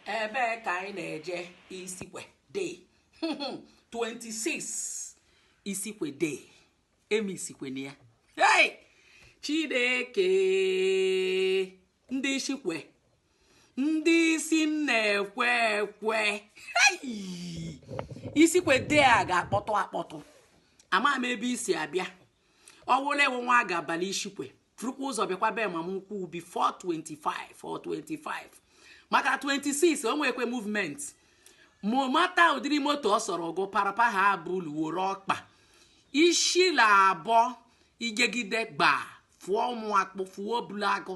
ebee ka anyị na-eje isikwe day 26 isikwe day eme isikwe na ya hey! chineke ndị isikwe ndị isi na-ekwe ekwe hey! isikwe day a ga-akpọtụ akpọtụ ama m ebe i si abịa ọwụla ewu nwa ga-aba l'isikwe furukwa ụzọ bịakwa be mama ukwu before 25 or 25 maka 26 o nwekwe movement ma mata ụdịrị moto ọ sọrọ gụ parapa ha bụlu woro ọkpa isi la abụọ igegide gba fụọ ụmụ akpụ fụọ obulu agụ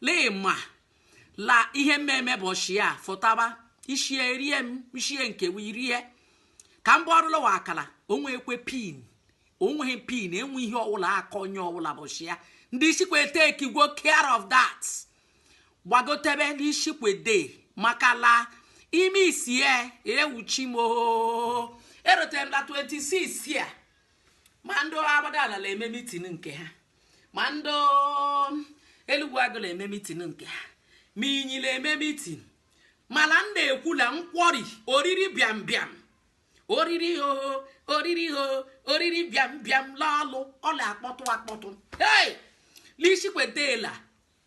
lee ma la ihe mmemme bọchị a fọtaba ishie erie m ishie nke wee rie ka m gbarụla wa akara o nwekwe pin o nweghị pin enwe ihe ọwụla aka onye ọwụla bọchị ya ndị isikwe takego care of that gbagotebe l'isikwe day maka la ime isie ewuchi m oo erute m la 26 a ma ndị agbadala la-eme meeting nke ha ma ndị elugwu agụ la-eme meeting nke ha ma inyi la-eme meeting mala m na-ekwula nkwọri oriri bịam bịam oriri ho oriri ho oriri bịam bịam lọlụ ọ la-akpọtụ akpọtụ hey! n'isikwetela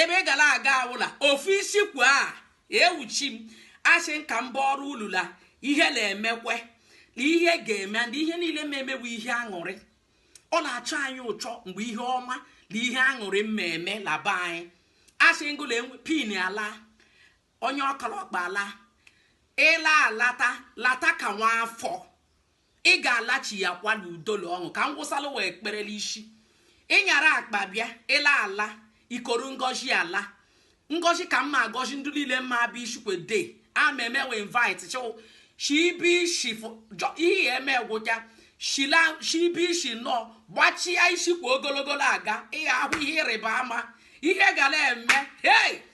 ebe ị gala aga awụla ofu isikwe a ewuchi m asị nka mba ọrụ ulula ihe la-emekwe ihe ga-eme na ihe niile ma emewe ihe aṅụrị ọ la-achọ anyị ụchọ mgbe ihe ọma la ihe aṅụrị mmemme la be anyị a single pin ala onye ọkọ l'ọkpa ala ị la-alata lata ka nwa afọ ị ga-alachi ya kwa na udo la ọṅụ ka ngwụsalụ wee kpere la isi ị nyara akpa bịa ị la-ala i koru ngọzi ala ngọzi ka mma agọzi ndị niile mma abịa ishikwe day ameme we invite chụ shibi ishi ihe ya eme gwụcha shibi ishi nọ gbachia isi kwa ogologo aga ị ya-ahụ ihe ịrịba ama ihe gala eme hey